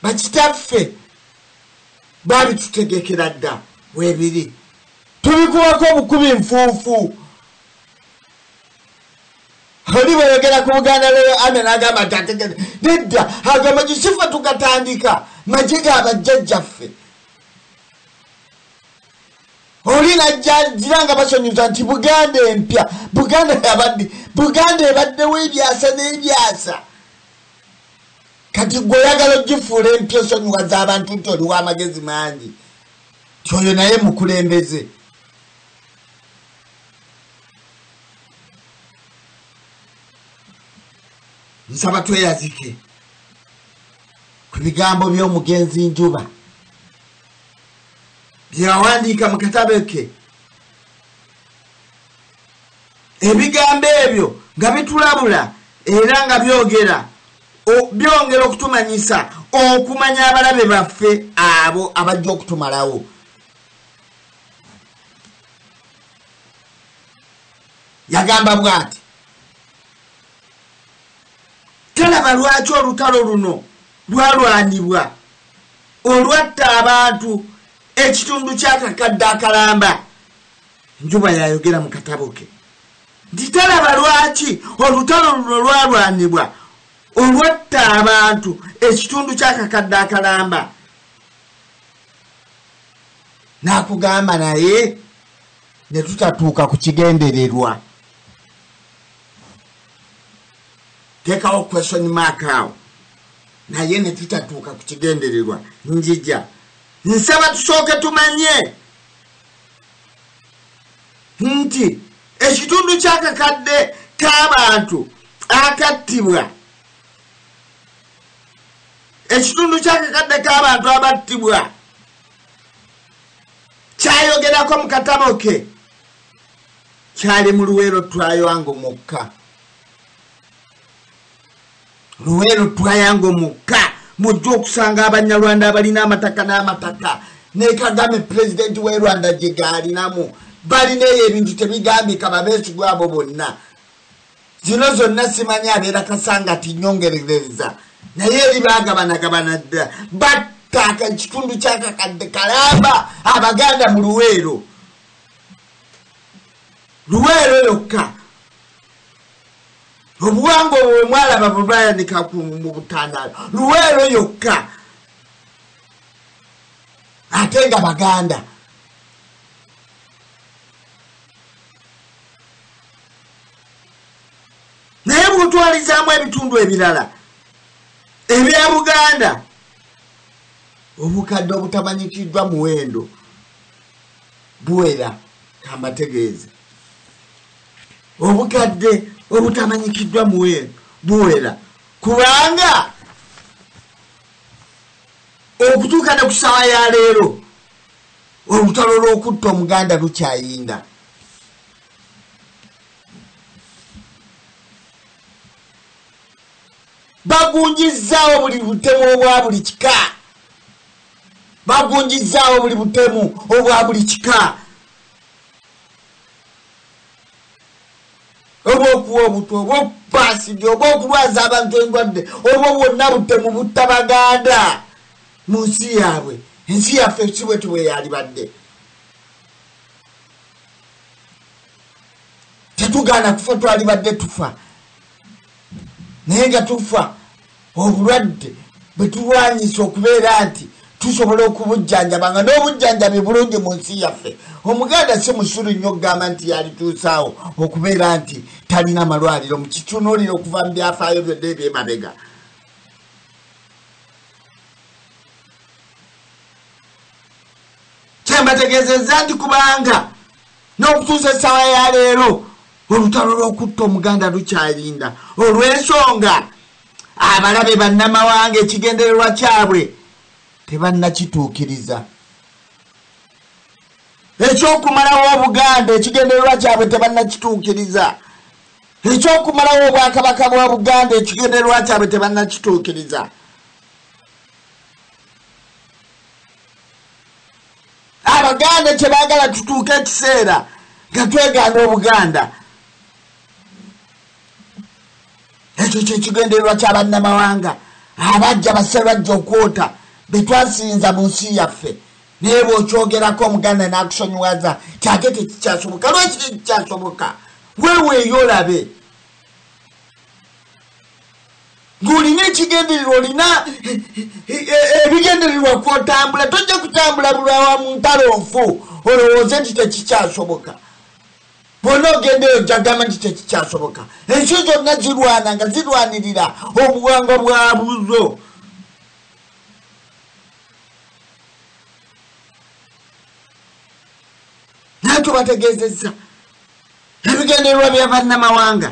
bakitaffe babitutegekera dda webiri tubikubako obukubi nfuufu oli bweyogera ku buganda lweyo ana nagamba nti ategere nedda ago magisifa tugatandika maje ga bajjajjaffe oli najjagira nga basonyuza nti buganda empya buganda yabaddi buganda ebaddewo ebyasa n'ebyasa kati gwe oyagala ogifuula empya osonyiwa z'abantu nti oliwo amagezi mangi tyoyo naye mukulembeze nsaba tweyazike ku bigambo by'omugenzi njuba byeyawandiika mu katabe ke ebigambo ebyo nga bitulabula era nga byogera Byongera okutumanyisa okumanya abalabe baffe abo abajja okutumalawo. Yagamba bwati, talaba lwaki olutalo luno lwalwanibwa olwatta abantu ekitundu kyakakadde akalamba njuba yayogera mu katabo ke Nti talaba lwaki olutalo luno lwalwanibwa olwatta abantu ekitundu ky'akakadde akalamba. Nakugamba naye ne tutatuuka ku kigendererwa. Teekawo question mark awo. naye netutatuuka ku kigendererwa njija nsaba tusooke tumanye nti ekitundu ky'akakadde k'abantu akattibwa ekitundu ky'akakadde k'abantu abattibwa kyayogerako mu katabo ke kyali mu luweero twayoango mukka luweero twayango mukka mujja okusanga abanyarwanda abalina amataka n'amataka ne kagame pulezidenti w'e rwanda gye gaalinamu balina eyo ebintu tebigambika babeesigwa abo bonna zino zonna simanyi abeera kasanga tinyongerereza naye eri bagabanagabana dda battaaka ekitundu kyakakadde kalamba abaganda mu luweero luweero yokka obuwanga obwo bwemwalaba bwebayanika mu butandaalo luweero yokka ate nga baganda naye bwotwalizaamu ebitundu ebirala ebya buganda obukadde obutamanyikiddwa muwendo buwera kambategeeze obukadde obutamanyikiddwa buwera kubanga okutuuka ne ku saawa ya leero olutalo lw'okutta omuganda lukyayinda bagunjizzaawo buli butemu obwa buli kika bagunjizzaawo buli butemu obwa buli kika oba okuwa obutwa oba okupaasibya oba okulwaza abantu endwadde obwo bwonna butemu butta baganda mu nsi yaabwe ensi yaffe si bwetyo bwe yalibadde tetugaana kufa twalibadde tufa naye nga tufa obulwadde bwetulwanyisa okubeera nti tusobola okubujjanjaba nga n'obujjanjabi bulungi mu nsi yaffe omuganda si musulu nnyo okugamba nti yalituusaawo okubeera nti talina malwaliro mukitunuulira okuva mu byafaayo byonna ebyemabega kyembategeezezza nti kubanga N'okutuusa essaawa ya leero olutalo lw'okutta Omuganda lukyalinda olw'ensonga abalabe bannamawanga ekigendererwa kyabwe tebannakituukiriza. Eky'okumalawo Obuganda ekigendererwa kyabwe tebannakituukiriza. Eky'okumalawo Obwakabaka bwa Buganda ekigendererwa kyabwe tebannakituukiriza. Abaganda kyebagala tutuuka ekiseera nga twegaana obuganda ekyo kyekigendererwa kyabannamawanga abajja baserajja okwota betwasinza mu nsi yaffe naye bwokyogerako omuganda nakusonyiwaza kyate tekikyasoboka lwaki tekikyasoboka weweeyo olabe ng'olina ekigendererwa olina ebigendererwa kwotambula tojja kutambula bulwawa mu ntalo nfu olowooze nti tekikyasoboka bwonna ogendeyo jagamba nti tekikyasoboka ensi zonna zirwana nga zirwanirira obuwangwa bwa buzo naye tubategeezezza ebigendererwa bya bannamawanga